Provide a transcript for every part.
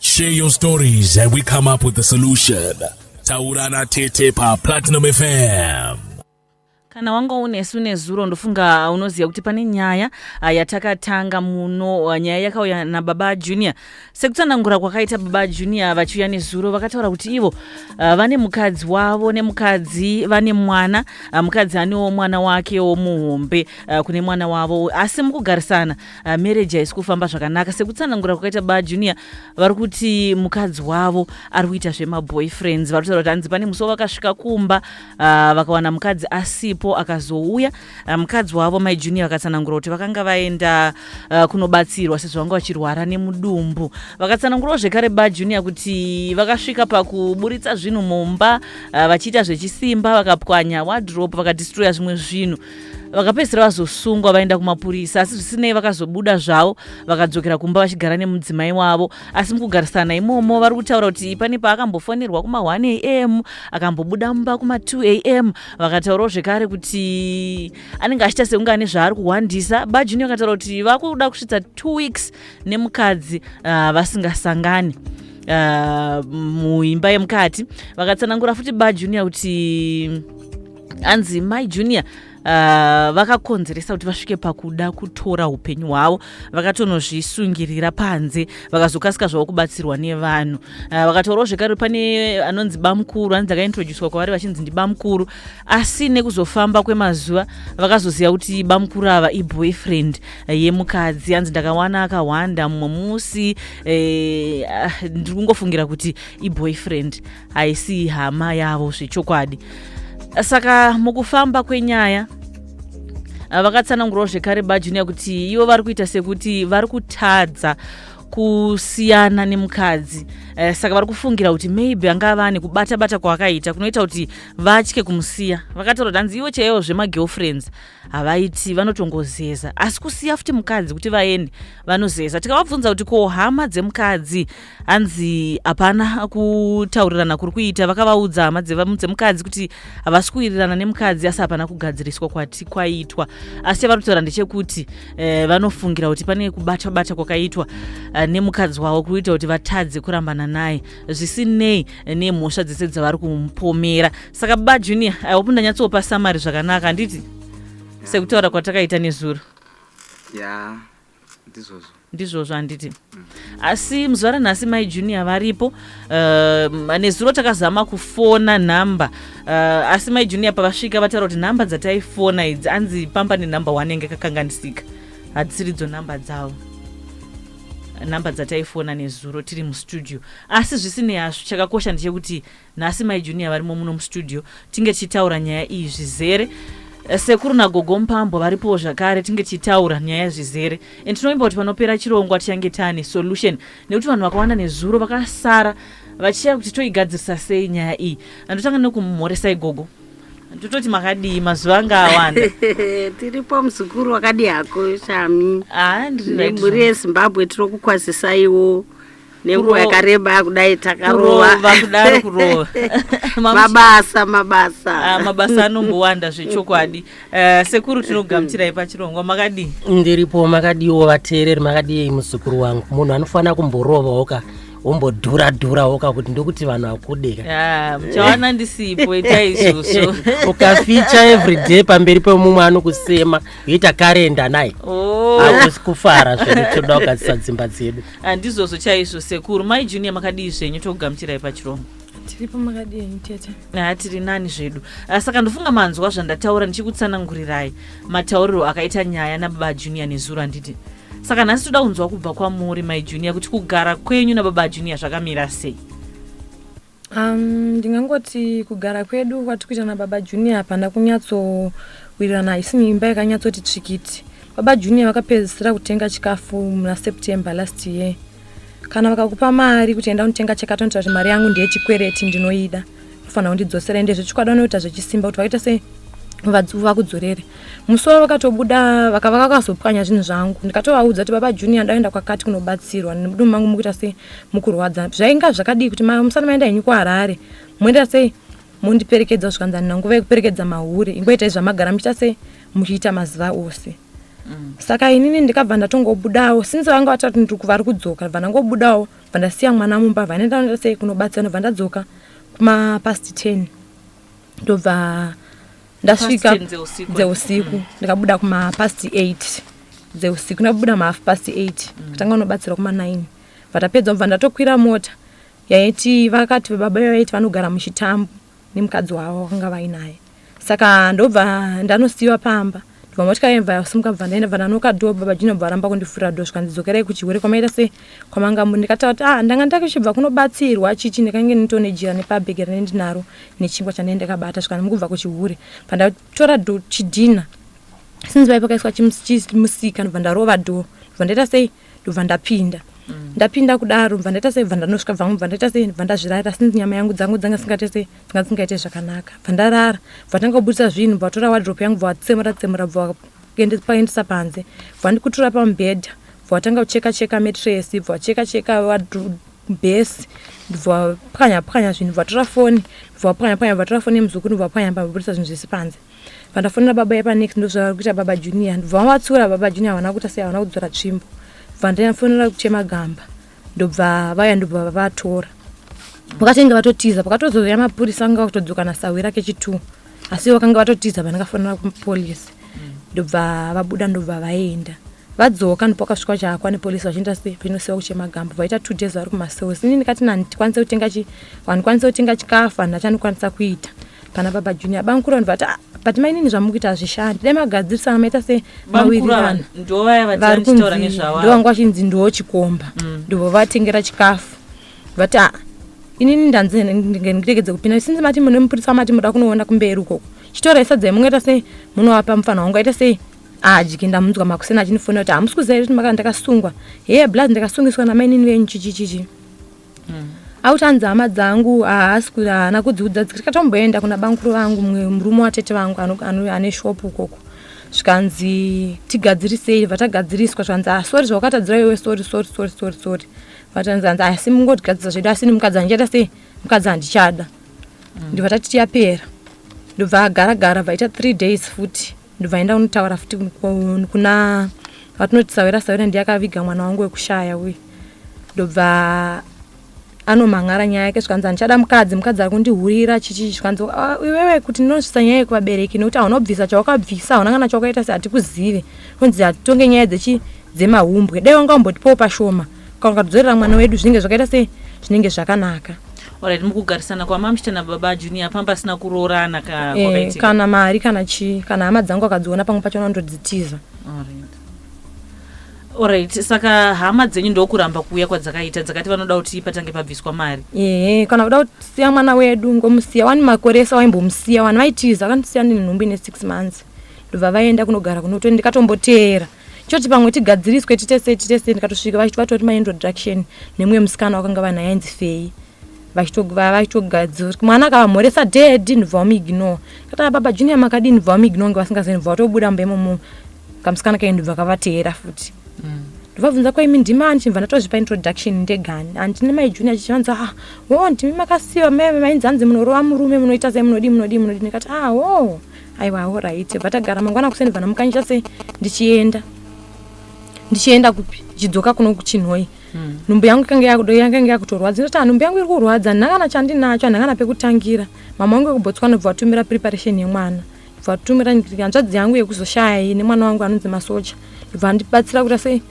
Share your stories and we come up with a solution. Taurana Tete pa Platinum FM. kana wanga unesu nezuro ndofunga unoziva kuti pane nyaya ah, yatakatanga muno ah, nyaya yakauya nababa junior sekutsanangura kwakaita baba junior vachiuya nezuro vakataura kuti ivo ah, vane mukadzi wavo nemukadzi vane mwana ah, mukadzi anewo mwana wakewo muhombe ah, kune mwana wavo asi mukugarisana uh, marriage haisi kufamba zvakanaka sekutsanangura kwakaita ba junior vari kuti mukadzi wavo ari kuita zvemaboyfriends vari kutaura kuti hanzi pane musi wavakasvika kumba uh, vakawana mukadzi asipo akazouya uh, mukadzi wavo mai junior vakatsanangura kuti vakanga vaenda uh, kunobatsirwa sezvo vanga vachirwara nemudumbu vakatsanangurawo zvekare ba junior kuti vakasvika pakuburitsa zvinhu mumba uh, vachiita zvechisimba vakapwanya wadrop vakadistroya zvimwe zvinhu vakapedzisira vazosungwa vaenda kumapurisa asi zvisinei vakazobuda zvavo vakadzokera kumba vachigara nemudzimai wavo asi mukugarisana imomo vari kutaura kuti pane paakambofonerwa kuma 1 am akambobuda mumba kuma 2 am vakataurawo zvekare kuti anenge achiita sekunge ane zvaari kuhwandisa bajuni vakataura kuti vakuda kusvitsa 2 weeks nemukadzi uh, vasingasangani uh, muimba yemukati vakatsanangura futi bajunior kuti hanzi mai junior uh, vakakonzeresa kuti vasvike pakuda kutora upenyu hwavo vakatonozvisungirira panze vakazokasika zvavo kubatsirwa nevanhu uh, vakataurawo zvekare pane anonzi bamukuru anzi akaintroducwa kwavari vachinzi ndibamukuru asi nekuzofamba kwemazuva vakazoziva kuti bamukuru ava iboyfriend uh, yemukadzi anzi ndakawana akahwanda mumwe musi uh, ndiri kungofungira kuti iboyfriend haisi hama yavo zvechokwadi saka mukufamba kwenyaya ah, vakatsanangurawo zvekare bajunior kuti ivo vari kuita sekuti vari kutadza kusiyana nemukadzi eh, saka vari kufungira kuti maybe angava ane kubata bata kwaakaita kunoita kuti vatye kumusiya vakataura kuti hanzi ivo chaivo zvemagirlfriends havaiti vanotongozeza asi kusiya futi mukadzi kuti vaende vanozeza tikavabvunza kuti ko hama dzemukadzi hanzi hapana kutaurirana kuri kuita vakavaudza hama dzemukadzi kuti havasi kuwirirana nemukadzi asi hapana kugadziriswa kwati kwaitwa asi chavanotaura ndechekuti eh, vanofungira kuti pane kubata bata kwakaitwa eh, nemukadzi wavo kuita kuti vatadze kurambana naye zvisinei nemhosva dzese dzavari kumupomera saka baba junior i hope ndanyatsopa samari zvakanaka handiti sekutaura kwatakaita nezuro ya ndizvozvo ndizvozvo handiti asi muzuva ranhasi mai junior varipo uh, nezuro takazama kufona nhamba uh, asi mai junior pavasvika vataura kuti nhamba dzataifona idzi anzi pamba nenhamba one inge kakanganisika hadzisiridzo nhamba dzavo nhamba dzataifona nezuro tiri mustudio asi zvisinei hazvo chakakosha ndechekuti Nhasi mai Junior varimo muno mustudio tinge tichitaura nyaya iyi zvizere. Eh, sekuru nagogo mupambo varipowo zvakare tinge tichitaura nyaya zvizere and tinovimba kuti panopera chirongwa tichange taane solution nekuti vanhu vakawanda nezuro vakasara vachishaya kuti toigadzirisa sei nyaya iyi andotanga nekumhoresai gogo tototi makadii mazuva anga awanda tiripo muzukuru wakadii hako shami ah, ndiri right, nemhuri shami. yezimbabwe tiri kukwazisaiwo nenguva yakareba kudai takarova kudaro kurova mabasa mabasa ah, mabasa anombowanda zvechokwadi eh, sekuru tinogamuchirai pachirongwa makadii ndiripo makadiiwo vateereri makadii muzukuru wangu munhu anofanira kumborovawo ka wombodhura dhura woka kuti ndokuti vanhu vakudeka muchawana ndisipo itai izvozvo ukaficha everyday pamberi pemumwe anokusema yoita karenda naye oh. akusi kufara zvedu toda kugadzisa dzimba dzedu handizvozvo chaizvo sekuru mai junior makadii zvenyu tokugamuchirai pachirongwa tiripo makadii henyu tete haa tiri nani zvedu Ah, saka ndofunga manzwa zvandataura ndichikutsanangurirai matauriro akaita nyaya nababa junior nezuro handiti saka nhasi toda kunzwa kubva kwamuri mai junior kuti kugara kwenyu nababa junior zvakamira sei Um, ndingangoti kugara kwedu kwati kuita nababa junior hapana kunyatsowirirana haisini imba yakanyatsoti tsvikiti baba junior vakapedzisira kutenga chikafu muna september last year kana vakakupa mari kuti enda unotenga chakatonoita kuti mari yangu ndeyechikwereti ndinoida unofanira kundidzosera ende zvechikwadi vanoita zvechisimba kuti vakaita se vakudzorere musi wavo vakatobuda vakava vakazopwanya zvinhu zvangu ndikatovaudza kuti baba junior ndaenda kwakati kunobatsirwa nemudumbu mangu mukuita sei mukurwadza zvainga zvakadii kuti musana maenda henyu kuharare moenda sei mondiperekedza zvikanzi handina nguva yekuperekedza mahure ingoitai zvamagara muchiita sei muchiita mazuva ose mm. saka inini ndikabva ndatongobudawo since vanga vatati ndikuti vari kudzoka bva ndangobudawo bva ndasiya mwana mumba vanoenda noita sei kunobatsira nobva ndadzoka kumapast ten ndobva ndasvika dzeusiku mm. ndikabuda kumapast eight dzeusiku ndabuda mahalf past eight mm. tanga unobatsirwa kumanine vatapedza kubva ndatokwira mota yaiti vakati vababa vaiti vanogara muchitambo nemukadzi wavo vakanga vainaye saka ndobva ndanosiyiwa pamba ndibva motya yemva yasimuka bva ndaenda bva ndanoka do baba jino bva varamba kundifurira do zvikanzi dzokerai kuchihwere kwamaita sei kwamanga muri ndikataura kuti ah ndanga ndake chibva kunobatsirwa chichi ndakange nditone jira nepabhege rine ndinaro nechingwa chandai ndakabata zvikanzi mukubva kuchihwere bva ndatora do chidhina since vaipakaiswa chimusika ndibva ndarova do bva ndaita sei ndobva ndapinda mm. ndapinda kudaro bva ndaita sei bva ndanosvika bvangu bva ndaita sei bva ndazvirayira since nyama yangu dzangu dzanga singate sei dzanga dzingaite zvakanaka bva ndarara bva tanga kubudisa zvinhu bva vatora wadrop yangu bva vatsemura tsemura bva vaendesa panze bva ndikutura pamubhedha bva vatanga kucheka cheka metresi bva vacheka cheka bhesi ndibva pwanya pwanya zvinhu bvatora foni ndibva pwanya pwanya bvatora foni yemuzukuru ndibva pwanya pambabudisa zvinhu zvese panze vandafonera baba yepa next ndozvavari kuita baba junior ndobva vavatsiura baba junior havana kuita sei havana kudzora tsvimbo bva ndafonera kuchema gamba ndobva vaya ndobva vavatora vakatenge vatotiza pakatozouya mapurisa anga vakutodzoka nasahwi rake chitu asi vakanga vatotiza vandakafonera kupolisi ndobva vabuda ndobva vaenda vadzoka ndipo vakasvika vachahakwa nepolisi vachienda vachinosewa kuchema gamba vaita two days vari kumasews ini ndikati nani tikwanise kutenga chi vandikwanise kutenga chikafu handati andikwanisa kuita Pana baba Junior bamkura ndivati ah, but mainini zvamukuita hazvishandi dai magadzirisana maita se mawirirano vari kunzi ndovanga vachinzi ndoo chikomba mm. ndivo vatengera chikafu vati ah, inini ndanzi ndiregedze kupinda sinzi mati mune mupurisa mati muda kunoona kumberi ukoko chitora isadzai mungaita sei munovapa mufana wangu aita sei adyi ndamunzwa makuseni achinifonera kuti hamusi kuziva kuti makana ndakasungwa hee blaz ndakasungiswa namainini venyu chichichichi Auti hanzi hama dzangu haasi kuda haana kudziudza dzikatomboenda kuna bankuru vangu mumwe murume watete vangu ano- ano- ane shopu ukoko zvikanzi tigadzirisei vatagadziriswa zvikanzi ah sorry zvawakatadzira iwe sorry sorry sorry sorry sorry vatanzi hanzi asi mungotigadzirisa zvedu asi ini mukadzi handichada sei mukadzi handichada ndibva tatiti yapera ndobva agara gara bva ita three days futi ndobva enda unotaura futi kuna vatinoti sawira sawira ndiye akaviga mwana wangu wekushaya uye ndobva anomhan'ara nyaya yake zvikanzi handichada mukadzi mukadzi ari kundihurira chichii zvikanzi ah, iwewe kuti ndinozvisa nyaya yekuvabereki nekuti hauna kubvisa chawakabvisa hauna kana chawakaita sehati kuzive kunzi hatitonge nyaya dzemahumbwe dai wanga wambotipawo pashoma kana ukatidzorera mwana wedu zvinenge zvakaita sei zvinenge zvakanaka orit mukugarisana kwamamshita nababa junior pamba pasina kuroorana eh, kana mari kana chii kana hama dzangu akadziona pamwe pacho anondodzitiza orit saka hama dzenyu ndokuramba kuuya kwadzakaita dzakati vanoda kuti patange pabviswa mari ehe kana kuda kusiya mwana wedu ngomusiya wani makore ese waimbomusiya wani vaitiza vakanisiya ndine nhumbu ine six months ndobva vaenda kunogara kunoto ndikatomboteera choti pamwe tigadziriswe titese titese ndikatosvika vachiti vatori maintroduction nemumwe musikana wakanga vanhu ainzi fei vachitogadzira mwana akavamhoresa dedi ndibva wamiignore kataa baba junior makadii ndibva wamiignore nge vasingazivi ndibva watobuda mumba imomo kamusikana kaini ndibva kavateera futi mm. ndovabvunza kwaimi ndimi ani chimva ndatozvipa introduction ndegani andi nemai junior chichivanza ah wo ndimi makasiva mainzi hanzi munorova murume munoita sei munodii munodii munodii ndikati ah wo oh. aiwa horaite vatagara mangwana kuseni vana mukanyita sei ndichienda ndichienda kupi ndichidzoka kuno kuchinhoi hmm. nhumbu yangu yakange yakutorwadza inoti ah, nhumbu yangu iri kurwadza ndakana chandinacho andakana pekutangira mama wangu yekubotswana bva vatumira preparation yemwana bva vatumira hanzvadzi yangu yekuzoshaya iyi nemwana wangu anonzi masocha bva andibatsira kuita sei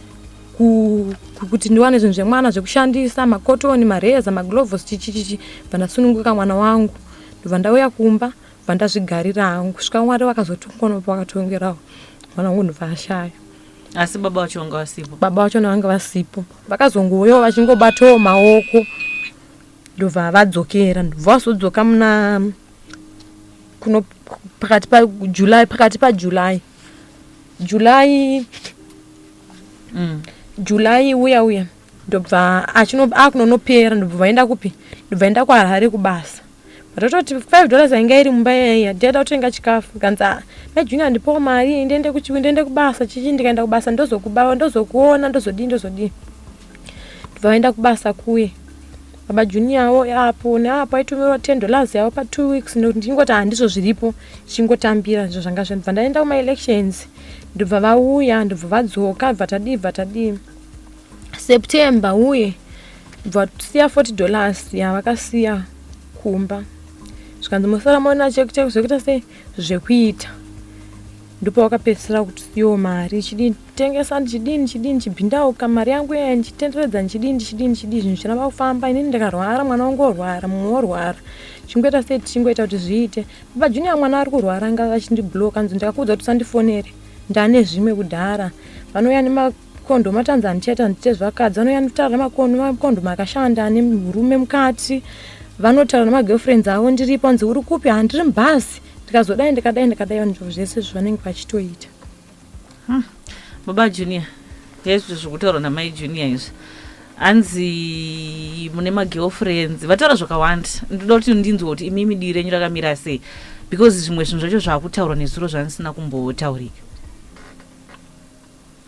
kuti ndiwane zvinhu zvemwana zvekushandisa makotoni mareza magloves chichichichi bva ndasununguka mwana wangu ndobva ndauya kumba ndakabva ndazvigarira hangu kusvika mwari vakazotongonopa vakatongerawo mwana wangu ndobva ashaya asi baba vacho vanga vasipo baba vacho navanga vasipo vakazongouyawo vachingobatawo maoko ndobva vadzokera ndobva vazodzoka muna kuno pakati pajuly pakati pajuly july mm. july uya uya ndobva achino akunonopera ndobva vaenda kupi ndobva enda kuharare kubasa vatototi five dollars yainga iri mumba yaiya ndiaida kutenga chikafu kanzi ah, mai junior ndipowo mari ndiende kuchiwi ndiende kubasa chichi ndikaenda kubasa ndozokubava ndozokuona ndozodii ndozodii ndobva vaenda kubasa kuye baba junior wo apo neapo aitumirwa ten dollars yavo patwo weeks nokuti ndingoti handizvo zviripo chingotambira izvo zvanga zvandibva ndaenda kumaelections ndobva vauya ndobva vadzoka bvatadii bvatadii September uye vasiya 40 dollars yavakasiya kumba zvikanzi mosara maona cheki cheki zvekuita sei zvekuita ndipo wakapedzisira kuti siwo mari chidini tengesa ndichidini chidini chibhindauka mari yangu iya ndichitenderedza ndichidini ndichidini chidii zvinhu zvichiramba kufamba inini ndikarwara mwana wangu orwara mumwe worwara chingoita sei tichingoita kuti zviite baba junior mwana ari kurwara anga vachindibloka nzi ndakakuudza kuti usandifonere ndane zvimwe kudhara vanouya nema Kondo matanza handichaita handite zvakadzi vanouya nditaura makondo makondo makashanda ane murume mukati vanotaura nemagirlfriends avo ndiripo hanzi uri kupi handiri mubhasi ndikazodai ndikadai ndikadai vanhu zvese zvanenge vachitoita hmm. baba junior hezvi zvekutaurwa namai junior izvi hanzi mune magirlfriends vataura zvakawanda ndoda kuti ndinzwa kuti imi midii renyu rakamira sei because zvimwe zvinhu zvacho zvaakutaurwa nezuro zvandisina kumbotaurika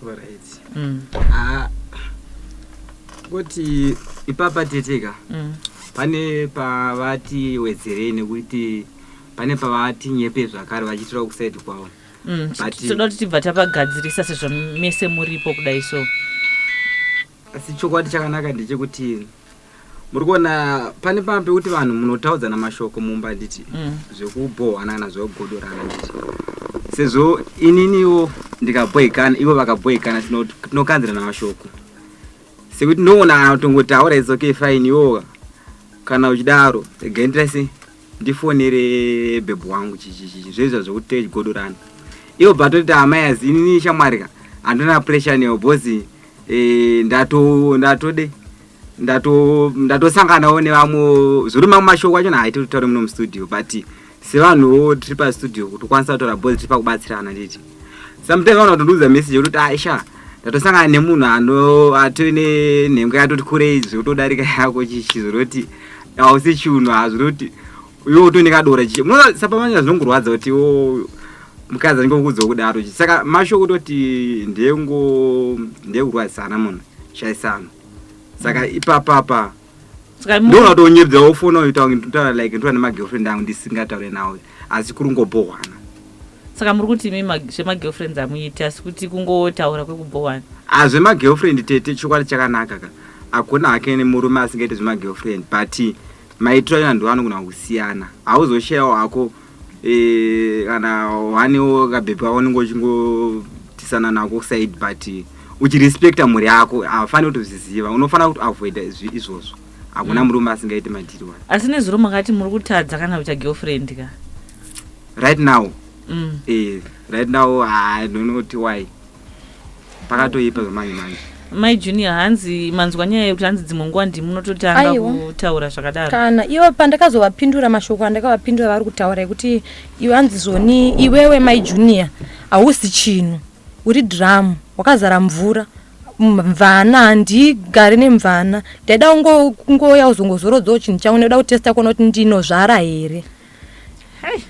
Alright. Mm. Ah, kuti ipapa teteka Mm. pane pavati wedzerei nekuti pane pavati nyepe zvakare vachiitira kusaidi kwavo Mm. But- toda kuti tibva tapagadzirisa sezvo mese muripo kudai so asi chokwadi chakanaka ndechekuti muri kuona pane pamba pekuti vanhu munotaudzana mashoko mumba handiti mm. zvekubhohwana kana zvekugodorana handiti sezvo ininiwo ndikabhohikana ivo vakabhohikana tinokanzirana mashoko sekuti ndinoona kana kutongotaura izoke fine iwoka kana uchidaro regai nditaise ndifonere bhebhu wangu zvezva zvekuti techigodorana ivo batoti hama yazi inini shamwari ka handina pressure newo bhozi eh, ndato ndatode ndatosanganawo nevamwe zviri mamwe mashoko acho naaite kuti taure muno mustudio but sevanhuwo tiri pastudio kuti ukwanisa kutaura bhozi tiri pakubatsirana nditi sometimes vana vatondiudza message yekuti aisha ah, ndatosangana nemunhu ano atone nhengo yatoti kurei zvekutodarika yako chichi zvinoti hausi chunhu hazviri kuti iwe uto nekadora chiche munoona sapamanya zvinongorwadza kuti o oh, mukadzi anenge kuudza kudaro chi saka masho kutoti ndengo ndekurwadzisana munhu shaisano saka mm. ipapapa ndoona kuti onyebza wofona uita like ndoona nemagirlfriend angu ndisingataure nawo asi kurungobhohwana saka muri kuti imi zvemagirlfriends hamuiti asi kuti kungotaura kwekubhohwana ah, zvemagirlfriend tete chokwadi chakanaka ka hakuna hake nemurume asingaite zvemagirlfriend but maitiro ayo anhu anogona kusiyana hauzoshayawo hako eh, kana wanewo kabhebhi wako unenge uchingotisana nako side but uchirespecta mhuri yako haufaniri kutozviziva unofanira kuti avoida izvozvo hakuna mm. murume asingaite madhiri wani asi nezuro makati muri kutadza kana kuita girlfriend ka right now mm. eh, right now i don't know ti why pakatoipa zvamanje manje mai junior hanzi manzwa nyaya yekuti hanzi dzimwe nguva ndimunototanga kutaura zvakadaro kana ivo pandakazovapindura mashoko andakavapindura vari kutaura yekuti iwe hanzi zoni iwewe mai junior hausi chinhu uri dhiramu wakazara mvura mvana handigari nemvana ndaida kungouya kuzongozorodzawo chinhu changu ndaida kutesta kuona kuti ndinozvara here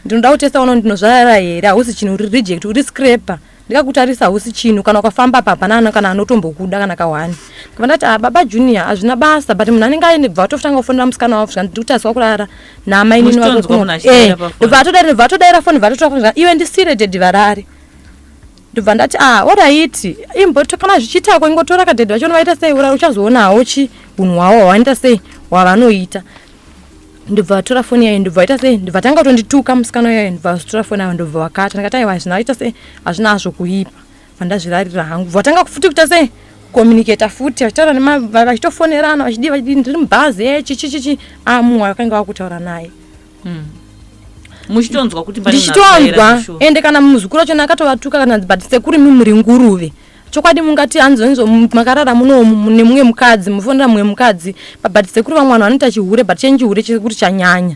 ndinoda kutesta kuona kuti ndinozvara here hausi chinhu uri reject uri scraper ndikakutarisa hausi chinhu kana ukafamba papanana kana anotombokuda kana kahwani kava ndati ah, baba junior hazvina basa but munhu anenge aine bva atofutanga kufonera musikana wavo zvika ndiri kutariswa kurara namainini vakokuno eh, bva atodaira bva atodaira foni bva atotoa iwe ndisire dedhi varare ndobva ndati a ah, oraiti imboto kana zvichiitako ingotora kadhedhi vacho novaita sei ura uchazoonawo chi unhu hwavo hwavanoita sei hwavanoita ndobva vatora foni yayo ndobva vaita sei ndobva tanga kutondituka musikana yayo ndobva vazotora foni yayo ndobva vakata ndikati aiwa hazvina vaita sei hazvina hazvo kuipa vandazvirarira hangu bva vatanga futi kuita sei kucommunicata futi vachitaura vachitofonerana vachidii vachidii ndiri mubhazi echichichichi eh, amuwa ah, vakanga vakutaura naye mm. muchitonzwa kuti ndichitonzwa ende kana muzukuru wacho akatovatukka kana but sekuri mimuri nguruve chokwadi mungati hanzonzo makarara muno nemumwe mukadzi mufonera mumwe mukadzi but sekuri vamwe vanhu vanoita chihure but chenyu chihure chekuri chanyanya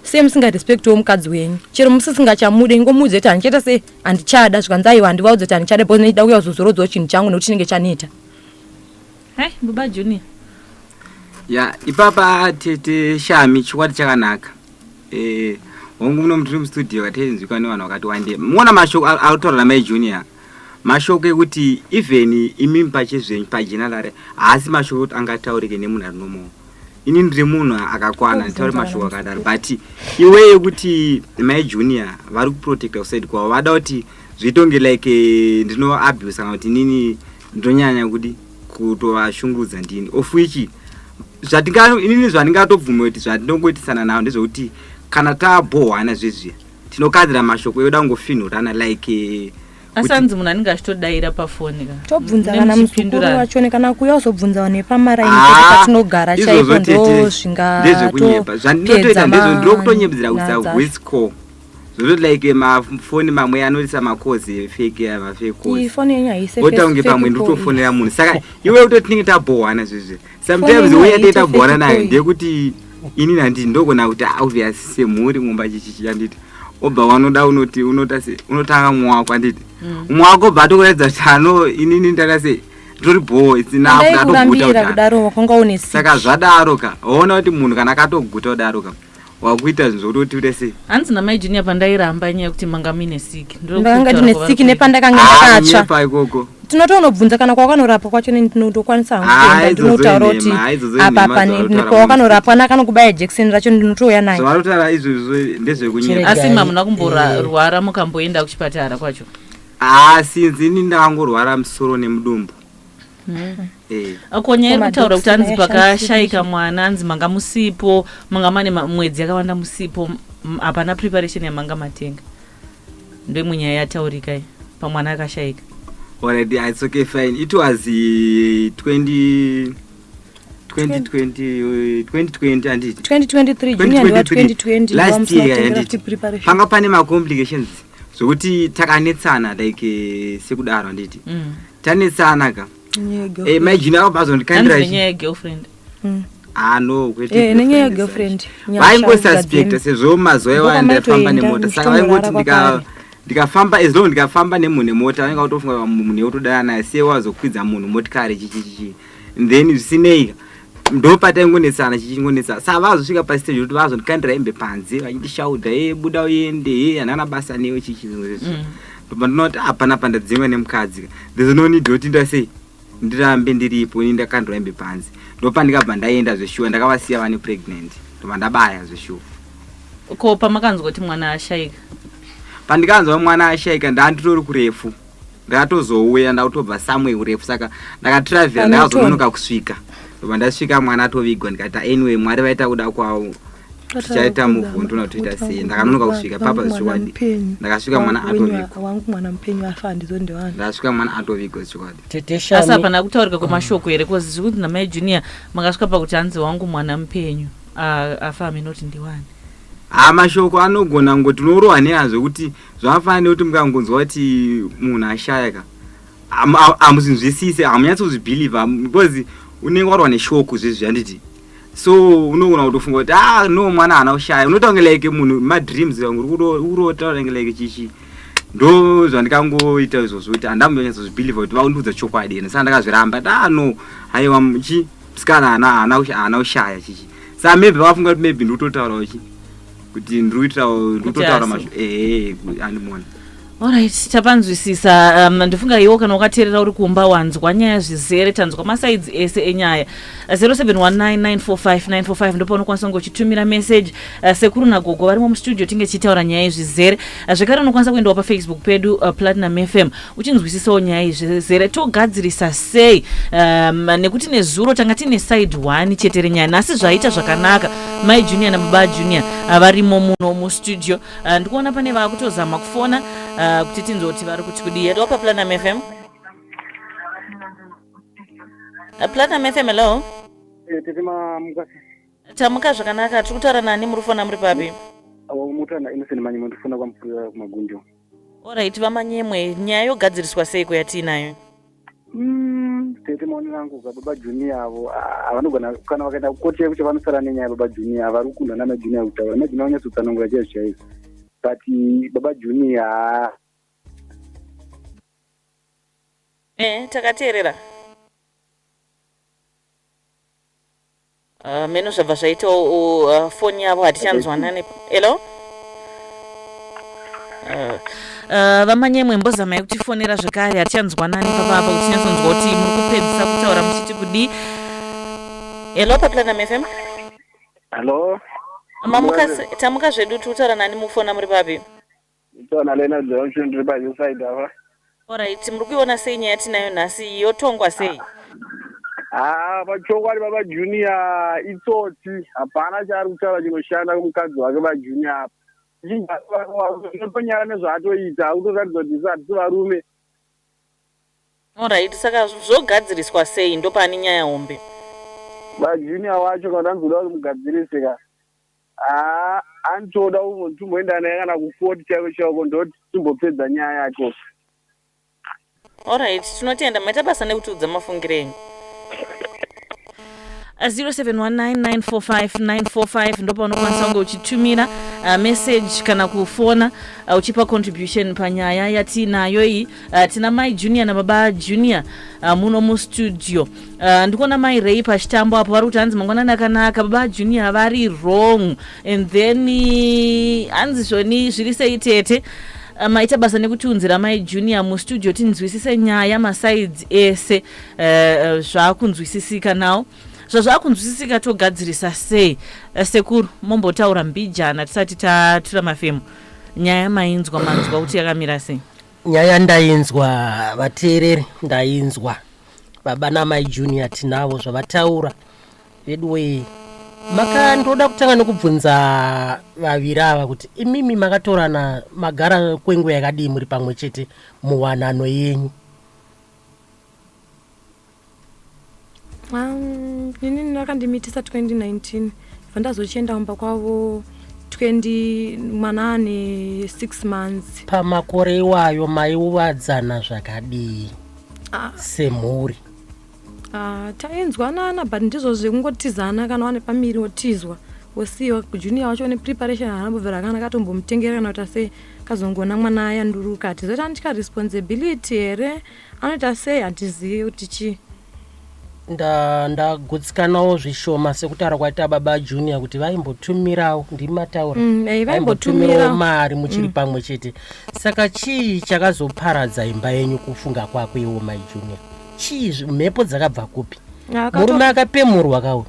sei musingarespectiwo mukadzi wenyu chero musisingachamudi ngomuudze kuti handichaita sei handichada zvikanzi aiwa handivaudze kuti handichada bcause ndichida kuya kuzozorodzawo chinhu changu nekuti chinenge chaneta Hey, Buba Junior. Ya, ipapa tete Shami chikwadi chakanaka. Eh, hongu muno mutiri mustudio katenzwika nevanhu vakati wande. Muona mashoko autaura namai Junior. Mashoko ekuti even imi pache zvenyu pajenalare haasi mashoko ekuti angataurike nemunhu ari nomo. Ini ndiri munhu akakwana nditaure mashoko akadaro but iwe yekuti mai Junior vari kuprotecta kusaid kwavo vada kuti zvitonge like eh, ndino abuse kana kuti nini ndonyanya kudi kutovashungurudza ndini of which inini zvandingatobvume kuti zvandinongoitisana navo ndezvekuti kana tabhohwana zvezviya tinokadzira mashoko ekuda kungofinhurana like eh, asi anzi munhu anenge achitodaira pafoni ka tobvunza kana muzukuru wacho nekana kuya uzobvunza vanhu vepamarainiatinogara ah, chaipo ndozvingaezvekunyepa zvandinotoita ndezvo ndiri kutonyepedzera kuisa voice call Zvozoti like mafoni mamwe anoisa makozi efeki ava fekozi. Foni yenyu haise Wota kunge pamwe nditofonera munhu. Saka iwe uto tinenge tabhohwana zvizvi. Sometimes uya tete tabhohwana nayo ndekuti ini nandi ndogona kuti ah, obvious semhuri mumba chichichi yanditi. Obva wanoda unoti unota se unotanga mwako anditi. Mm. Mwako bva tokuratidza chano inini ndaka se tori bho isina kuda toguta kudaro. Saka zvadaro ka. Ona kuti munhu kana akatoguta kudaro ka. wakuita zvinhu zvokuti utiure sei hanzi namai junior pandairamba nyaya yekuti manga muine siki ndanga ndine siki nepandakanga ndakatsva ah, ikoko tinotoonobvunza kana kwawakanorapwa kwacho ndinotokwanisa hangu ah, kuenda ndinotaura kuti apa pakwawakanorapwa nakanokubaya jekiseni racho ndinotouya naye zvavanotaura izvozvo ndezvekunyera asi mamuna kumborwara mukamboenda kuchipatara kwacho haa ah, sinzi ini ndakangorwara musoro nemudumbu Hmm. Eh. akonya iri kutaura kuti anzi pakashayika mwana anzi manga musipo manga mane mwedzi yakawanda musipo hapana preparation yamanga matenga ndoimwe nyaya yataurika iyi pamwana akashayika alright ah, it's okay fine it was 20 panga pane macomplications zvokuti takanetsana like eh, sekudaro handiti Mm. tanetsana ka Nenyaya yegirlfriend. Eh, imagine avo Hanzi bazondikandira nenyaya yegirlfriend Mm. ah no kwete Eh, nenyaya girlfriend yegirlfriend. such. Nyasha vaingosuspecta dzadzimba. sezvo mazuva Ndipo iwaya ndaifamba kwamaitoenda, nemota saka muchitomborara vaingoti ndika kwakare. ndikafamba as long ndikafamba nemunhu nemota vainga kutofunga munhu yekutodana naye siye wazokwidza munhu motikari chichichichi then zvisinei ndopataingonetsana chichingonetsana sa vazosvika pastage kuti vazondikandira hembe panze vachindishaudha e buda uende e hanana basa newe chichi mm. ndobandinoti hapana ah, pandadzingwa nemukadzi there's no need yoti nda sei ndirambe ndiripo ini ndakandira hembe panze ndopandikabva ndaenda zveshuwa ndakavasiya vane pregnant ndobva ndabaya zveshuwa ko pamakanzwa kuti mwana ashaika pandikanzwa mwana ashaika ndanditori kurefu ndatozouya ndakutobva somewhere kurefu saka ndakatravel ndakazononoka kusvika ndobva ndasvika mwana atovigwa ndikaita anyway mwari vaita kuda kwavo tichaita muvhundu natoita sei ndakanonoka kusvika papa zvichokwadi ndakasvika mwana atovigwandasvika mwana atovigwa zvichokwadi asi hapana kutaurika kwemashoko here bcause zviri kuti namai junior makasvika pakuti hanzi wangu mwana mupenyu afa hamenoti ndiwani haa mashoko anogona ngoti unorohwa neazvo kuti zvafana nekuti mukangonzwa kuti munhu ashaya ka hamuzinzwisise hamunyatsi kuzvibhiliva because unenge warwa neshoku zvezvi handiti so unogona kutofunga kuti ah no mwana haana kushaya unoita kunge like munhu madreams urikurotaura kunge like chichi ndo zvandikangoita izvozvo kuti handambonyatsa zvibhiliva kuti vakundiudza chokwadi ene saka ndakazviramba ti ah no haiwa chi msikana haana kushaya chichi sa maybe vakafunga kuti maybe ndikutotaurawo chii kuti ndiri kuitawo ndiri kutotaura mazvo ehe andimona Alright, tapanzwisisa um, ndofunga iwo kana wakateerera uri kumba wanzwa nyaya zvizere tanzwa masaidzi ese enyaya 0719945945 ndopaunokwanisa kunge uchitumira message uh, sekuru nagogo varimo mustudio tinge tichitaura nyaya izvizere uh, zvekare unokwanisa kuendawo pafacebook pedu uh, platinum fm uchinzwisisawo nyaya iyi zvezere togadzirisa sei um, nekuti nezuro tanga tiine side one chete renyaya nhasi zvaita zvakanaka mai junior nababa junior ah, varimo muno mustudio ah, ndikuona pane vakutozama kufona ah, kuti tinzwe kuti vari kuti kudii hello paplanam fm Ah, platinum fm hello Eh, tete mamuka tamuka zvakanaka tiri kutaura nani muri kufona muri papi mutana innocent manyi mandifona kwamupurira kumagunjo Alright vamanyemwe nyaya yogadziriswa seiko yatiinayo? Mm, tete maoni rangu za baba junior avo havanogona ah, kana vakaenda kukoti yekuti vanosara nenyaya baba junior havari kukundwa nana junior kutaura ana junior vanyatsotsanangura chaizvo chaizvo but eh, baba junior ah. eh takateerera Uh, meno zvabva zvaita uh, foni yavo hatichanzwanane hello uh, uh, vamanyemwe mbozamai kutifonera zvekare hatichanzwanani papapa kutinyatsonzwa kuti muri kupedzisa kutaura muchiti kudii hello paplanam fm hello mamuka tamuka zvedu tiri kutaura nani mukufona muri papi Nditaona Lena Jonchu ndiri pa hill side apa. Alright, muri kuiona sei nyaya yatinayo nhasi yotongwa sei? Haa pachokwadi baba Junior itsotsi hapana chaari kutaura chinoshanda kumukadzi wake vaJunior apa. Zvichitonyara nezvaatoita akutoratidza kuti isu hatisi varume. Alright, saka zvogadziriswa sei ndopane nyaya hombe. Ba Junior wacho kana ndoda kuti mugadzirise ka. Haa antoda kungonzi timboenda naye kana kukoti chaivo chaiko ndoti timbopedza nyaya yake. Alright tinotenda maita basa nekutiudza mafungiro enyu. 0719945945 ndopaunokwanisa kunge uchitumira uh, message kana kufona uh, uchipa contribution panyaya yatiinayo iyi uh, tina mai junior nababa junior uh, muno mustudio Uh, ndikuona mai rei pachitambo apo vari kuti hanzi mangwanani akanaka baba junior vari wrong and then eh, hanzi zvoni zviri sei tete Uh, maita basa nekutiunzira mai junior mustudio tinzwisise nyaya masaids ese uh, zvakunzwisisika nawo zvazvakunzwisisika togadzirisa sei uh, sekuru mombotaura mbijana tisati tatura mafemo nyaya mainzwa manzwa kuti yakamira sei nyaya ndainzwa vateereri ndainzwa baba namai junior tinavo zvavataura veduwee maka ndoda kutanga nekubvunza vaviri ava kuti imimi makatorana magara kwenguva yakadii muri pamwe chete muwanano yenyu um, ini ndakandimitisa 2019 vandazochienda kumba kwavo 20 mwana ane 6 months pamakore iwayo maiuvadzana zvakadii ah. semhuri ah, tainzwanana but ndizvo zvekungotizana kana wane pamiri wotizwa wosiyo junior wacho une preparation haanambobvira kana akatombomutengerera kana kuita sei kazongona mwana ayanduruka hatizoita ndika responsibility here anoita sei hatizivi kuti chii ndagutsikanawo nda zvishoma sekutaura kwaita baba junior kuti vaimbotumirawo ndimi mataura mm, eh, vaimbotumirawo mari muchiri mm. pamwe chete saka chii chakazoparadza imba yenyu kufunga kwako iwo mai junior chii mhepo dzakabva kupi murume akapemurwa kauri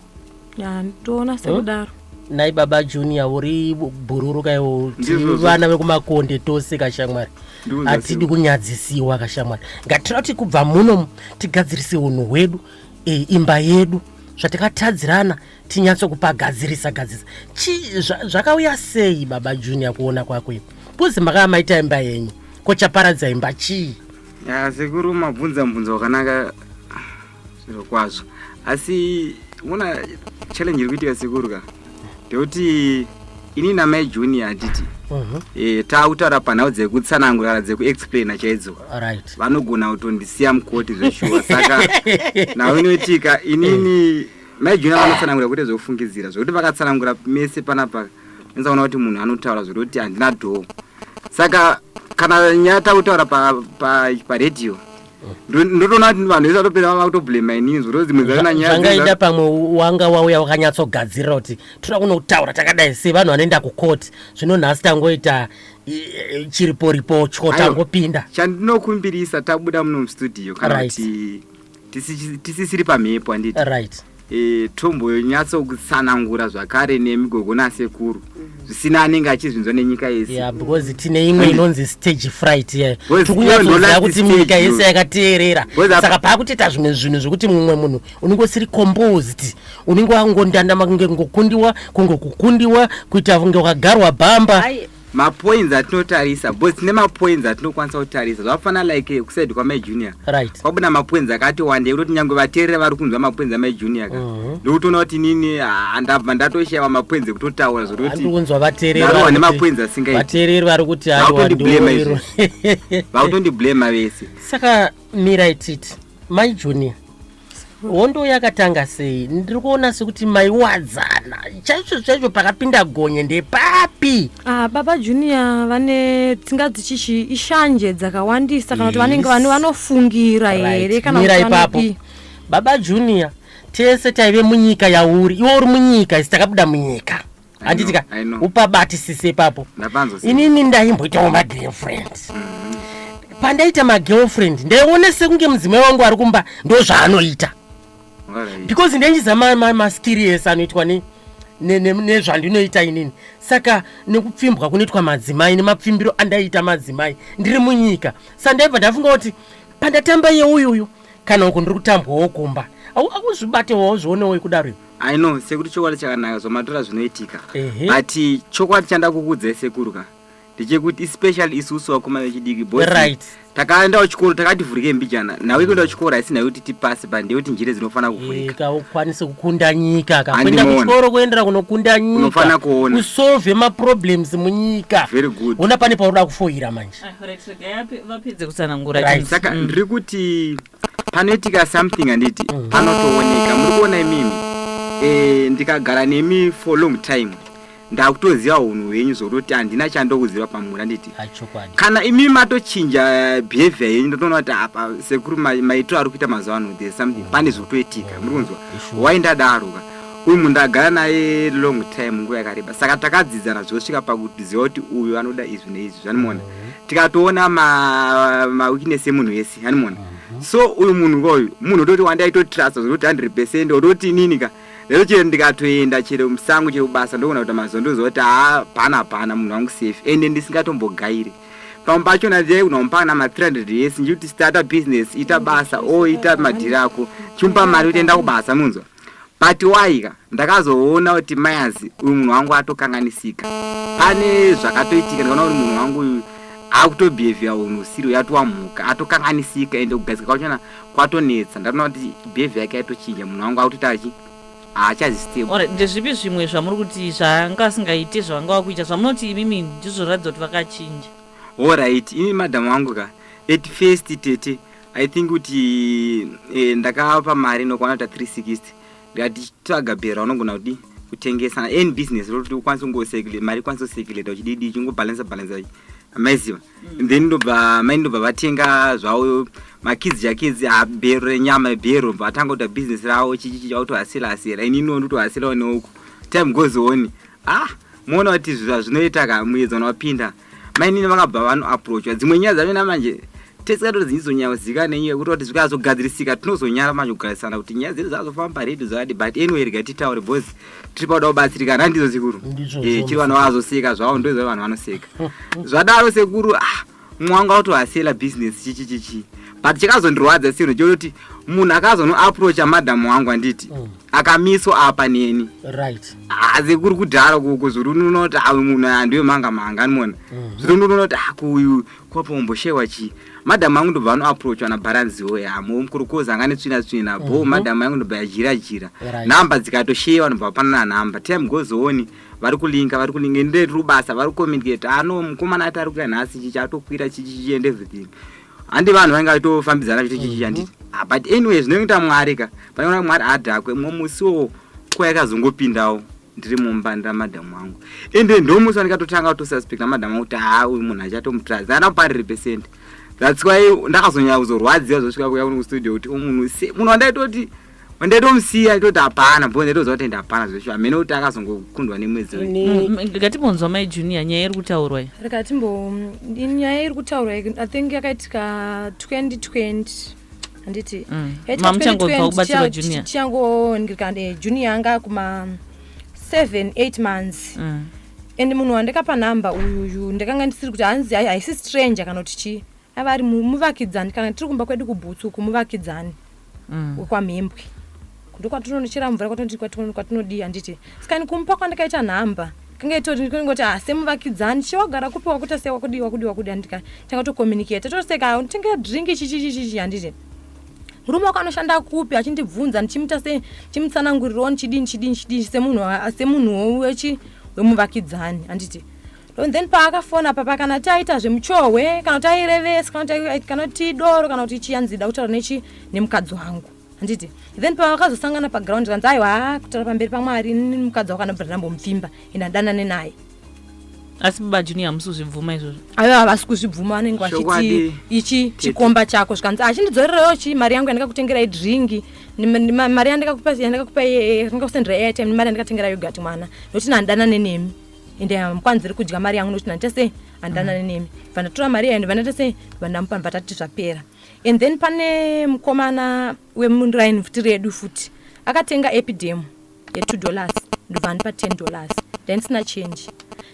ya ndoona sekudaro nhai baba junior uri bhururuka iwo Ndizvozvo. vana vekumakonde tose kashamwari Ndikuziva hatidi siko. kunyadzisiwa kashamwari ngatirati kubva muno tigadzirise unhu hwedu eh, imba yedu zvatakatadzirana tinyatsokupagadzirisa gadzirisa Chi- zva- zvakauya sei baba junior kuona kwako ipo kuzi makava maita imba yenyu ko chaparadza imba chii ya sekuru mabvunza mubvunzo wakanaka zvirokwazvo asi mona challenge iri kuitika sekuru ka ndekuti ini namai junior handiti mhm. eh, taakutaura panhau dzekutsanangurara dzekuexplaina chaidzo vanogona kutondisiya mukoti zveshuwa saka nhau inoitika inini mai junior vanotsanangura kuita zvekufungidzira zvekuti vakatsanangura mese panapa nzaona kuti munhu anotaura zvekuti handina dhoo saka kana nyaya takutaura paredio pa, pa ndotoona kuti vanhu vese vatopera vava kutoblema inini zviro dzimwe dzaona nyaya zvangaita pamwe wanga wauya wakanyatsogadzirira kuti toda kunotaura takadai sei vanhu vanoenda kukoti zvino nhasi tangoita chiriporipo cho tangopinda chandinokumbirisa tabuda muno mustudio kana kuti tisisiri pamhepo handiti right e, tomboyonyatsokutsanangura zvakare nemi gogo nasekuru mm -hmm. zvisina anenge achizvinzwa nenyika yese yeah, because tine imwe inonzi stage fright ye tikunyatsoziva kuti nyika yese yakateerera saka paakutiita zvimwe zvinhu zvekuti mumwe munhu unenge usiri composed unenge wangondandama kunge ngokundiwa kunge kukundiwa kuita kunge wakagarwa bhamba mapoints atinotarisa because tine mapoints atinokwanisa kutarisa zvafana like eh, kusaid kwamai junior right kwabuda mapoints akati wande kutoti nyange vateerere vari kunzwa mapoints amai junior ka Mhm. ndikutoona kuti inini ah, ndabva ndatoshaiwa mapoints ekutotaura zviri kuti andiri kunzwa vateereri Narowa vari kuti- nemapoinzi asingaiti. vateereri vari kuti Vari haiwa kundiblema ndiwo vakutondiblema vese saka mirai titi mai junior hondo yakatanga sei ndiri kuona sekuti maiwadzana chaizvo chaizvo pakapinda gonye ndepapi ah, baba junior vane tsinga dzichichi ishanje dzakawandisa kana kuti vanenge vane vanofungira here kanamira ipapo baba junior tese taive munyika yauri iwe uri munyika isi takabuda munyika handiti ka upabatisise ipapo inini ndaimboitawo magirlfriend pandaita magirlfriend ndaiona sekunge mudzimai wangu ari kumba ndo zvaanoita because ndaichiza maskiri ese anoitwa nei nezvandinoita inini saka nekupfimbwa kunoitwa madzimai nemapfimbiro andaiita madzimai ndiri munyika sa ndaibva ndafunga kuti pandatamba yeuyuyu kana uku ndiri kutambwawo kumba akuzvibatewo zvionewo ikudaro I know sekuru chokwadi chakanaka zvomatora zvinoitika but chokwadi chanda kukudzai sekuru ka ndechekuti especially isusu vakoma vechidiki bos right. takaendawo chikoro takati vhurike mbijana nhau yekuendawo chikoro haisi nhau yekuti tipase but ndeyekuti njere dzinofanira kuvhurika ukwanise kukunda nyika kakuenda kuchikoro kuendera kunokunda nyika unofanira kuona usolve maproblems munyika very good ona pane paunoda kufoira manje ah, vapedze kutsanangura saka ndiri kuti panoitika something handiti mm. panotooneka muri kuona imimi e, ndikagara nemi for long time ndakutoziva unhu hwenyu zvokutoti handina chandokuziva pamuri handiti kana imimi matochinja behavior yenyu ndotoona kuti apa sekuru maitiro ari kuita mazuva ano there something mm. pane zvokutoitika muri kunzwa mm. why ndadaroka uyu munhu ndagara naye long time nguva yakareba saka takadzidzana zvosvika pakuziva kuti uyu anoda izvi neizvi zvanimona mm. tikatoona maweakness emunhu wese animona mhm. so uyu munhu koyu munhu ototi wandaitotrust zvokuti 100 percent ototi inini ka lero chero ndikatoenda chero musango chero basa ndokona kuita mazuva ndozoti ha pana pana munhu wangu safe ende ndisingatombogairi pamwe pacho nadzai kunomupa na ma 300 yes ndikuti starta business ita basa o ita madhiri ako chimupa mari utoenda kubasa munzwa But why ka ndakazoona kuti mayazi uyu munhu wangu atokanganisika pane zvakatoitika ndikaona kuti munhu wangu uyu akutobehavia unhu usiri uyatova mhuka atokanganisika ende kugadzika kwachona kwatonetsa ndatoona kuti behavia yake yaitochinja munhu wangu akutoita achi haachazistable ndezvipi zvimwe zvamuri kuti zvaanga asingaite zvavanga vakuita zvamunoti imimi ndizvoratidza kuti vakachinja horit imi madhamu wangu ka at first tete i think kuti eh, ndakapa mari nokwana ta 360 ndikati tsvaga bhera unogona kuti kutengesa any business rokuti ukwanise kungosecule mari ikwanise kuseculator uchididi chingobalansa balansa maiziva mm. then ndobva mai ndobva vatenga zvavo makidzi chakidzi abhero renyama bhero bva atanga kuita business ravo chichichi chautohasira hasira ini iniwo ndotohasirawo neuku time goes on ah moona kuti zvinoita ka muedzano wapinda mainini vakabva vanoaproachwa dzimwe nyaya dzacho namanje tese katoti dzinyizonyawazika nenyaya yekuti kuti zvikazogadzirisika tinozonyara manje kugarisana kuti nyaya dzedu dzazofamba redu zvakadi but anyway rega titaure bcause tiri pauda kubatsirikana handizo sekuru eh, chiri vanhu vazoseka zvavo ndoizva vanhu vanoseka zvadaro sekuru ah, mwanga watohasela business chichi chichi but chakazondirwadza sino chototi munhu akazonoaproacha madhamu wangu anditi mm. akamiswa apa neni right hazi kuri kudhara kuko zviri unonoti awe munhu andiwe manga manga animona mhm. zviri unonoti akuyu kwapomboshewa chii madam angu ndobva anoaproachwa nabaranzi oye amo mukuru kozi anga netsvina tsvina bo mhm. madam angu ndobva yajira jira nhamba dzikatoshewa ndobva vapanana nhamba time goes on vari kulinga vari kulinga ende rubasa vari kucommunicate ano mukomana ati ari kuya nhasi chichi atokwira chichi chiende everything handi vanhu vainge vaitofambidzana vachiti chichi handiti ah, but anyway zvinoita mwari ka panoona mwari adhakwe mumwe musi wo kwayakazongopindawo ndiri mumba ndamadhamu wangu ende ndomusi wandikatotanga kutosuspect namadhamu wangu kuti haa uyu munhu achatomutradza ana kuparire pesent that's why ndakazonyanya kuzorwadziwa zvosvika kuya kuno kustudio kuti umunhu se munhu wandaitoti ndaitomsiya toti hapana bho ndaitoziva kuti enda hapana zveshu hamene kuti akazongokundwa nemwedzi rikatimbonzwa mai junior nyaya iri kutaurwa i rikatimbo nyaya iri kutaurwa i think yakaitika 2020 handiti mm. mamuchangobva kubatsirwa junior tichangondikande junior anga kuma 7 8 months mm. and munhu wandikapa number uyuyu ndakanga ndisiri kuti hanzi haisi stranger kana kuti chii aiva ari muvakidzani kana tiri kumba kwedu kubhutsu uku muvakidzani mm. wekwamhembwe ndokwatinonochera mvura kwatinodii handiti sikani kumupa kwandakaita nhamba kange itoringoti ha ah, semuvakidzani chewagara kupi wakuita sei wakudii wakudii wakudii handika tanga tocommunicate toseka ah, tenge drink chichichichichi handiti murume wako anoshanda kupi achindibvunza ndichimuita sei ndichimutsanangurirawo ndichidii ndichidii ndichidii semunhuwo wechi wemuvakidzani handiti and then paakafona apa pakana taita zvemuchohwe kana kuti airevesa kana kuti kana kuti doro kana kuti chiya nzida kutaura nechi nemukadzi wangu handiti then pavakazosangana paground kanzi aiwa haa kutaura pamberi pamwari mukadzi wako anobhira ndambomupfimba ende adanane naye asi baba junior hamusi kuzvibvuma izvozvo ayo havasi kuzvibvuma vanenge vachiti ichi chikomba chako zvikanzi achindidzorerawo chi mari yangu yandikakutengerai dringi mari yandikakupai yandikakusendera airtime nemari yandikatengera yogati mwana nokuti nandanane nemi ende um, kwanzi iri kudya mari yangu nokuti nandita sei handanane mm. nemi vandatora mari yayo ndivanaita sei vandamupa vatati zvapera and then pane mukomana wemuraini futi redu futi akatenga epidem yetwo dollars ndovandipa ten dollars ndaindisina change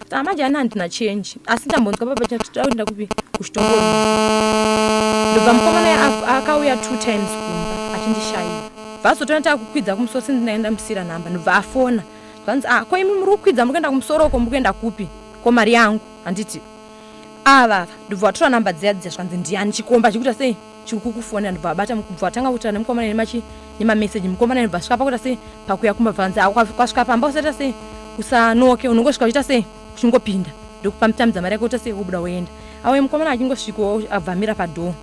saka manje ani handina change asi ndambonzwa baba chatodakuenda kupi kuchitongoo ndobva mukomana akauya two times kumba achindishaiwa vazotoona takukwidza kumusoro sendinaenda musira nhamba ndobva afona zvanzi ah ko imi muri kukwidza muri kuenda kumusoro uko muri kuenda kupi ko mari yangu handiti ava ava ndobva watora namba dziya dziya zvanzi ndiyani chikomba chikuita sei chiri kukufonera ndobva abata mukubva watanga kutaura nemukomana nemachi nemameseji mukomana ndobva svika pakuita sei pakuya kumba bvanzi ah kwasvika pamba usaita sei usanoke unongosvika uchiita sei uchingopinda ndokupa mutamidza mari yake uita sei wobuda woenda awe mukomana achingosvikawo abvamira padhoo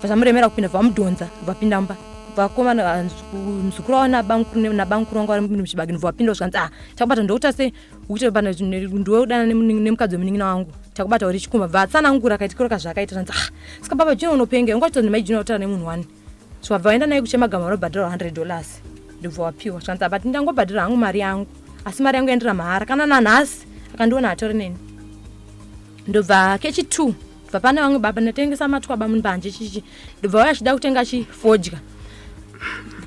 vachamuremera kupinda vamudhonza vapinda mba vakoma muzukuru wavo nabamukuru vanga vari muchibagini vapinda zvikanzi ah takubata ndokuta sei ukuti pana ndiwe udana nemukadzi wemunin'ina wangu takubata uri chikumba vatsanangura kaitikiro kazvakaita zvanzi ah saka baba jina unopenga unga chitozi mai jina utara nemunhu wani so vabva vaenda naye kuchemagama vanobhadhara 100 dollars ndobva wapiwa zvikanzi abati ndangobhadhara hangu mari yangu asi mari yangu yandira mahara kana nanhasi akandiona atori neni ndobva kechi two bva pane vamwe baba ndatengesa matwaba mumbanje chichi ndobva vaya achida kutenga chifodya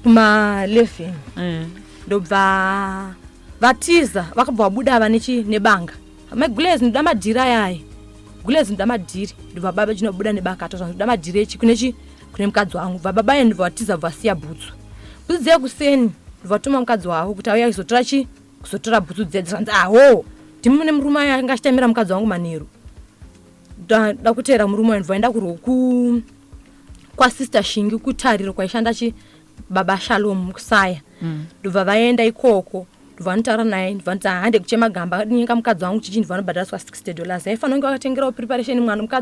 kuma 11 eh. ndobva vatiza vakabva vabuda ava nechi nebanga mai gulez ndoda madhiri ayayi gulez ndoda madhiri ndobva baba chinobuda nebakato zva ndoda madhiri echi kune chi kune mukadzi wangu bva baba ye ndobva vatiza bva vasiya bhutsu bhutsu dzekuseni ndobva vatuma mukadzi wavo kuti auya kuzotora chi kuzotora bhutsu dziya dzanzi aho ndimi mune murume ayo anga achitamira mukadzi wangu manheru da kuteera murume wayo ndvaenda kurwo kwasister shingi kutariro kwaishanda chi baba shalom kusaya mm. ndobva vaenda ikoko ndovanotaura naye ndovanoti hande kuchema gamba nyenga mukadzi wangu chichi ndovanobhadhariswa 60 dollars aifanira kunge vakatengerawo preparation mwana mukadzi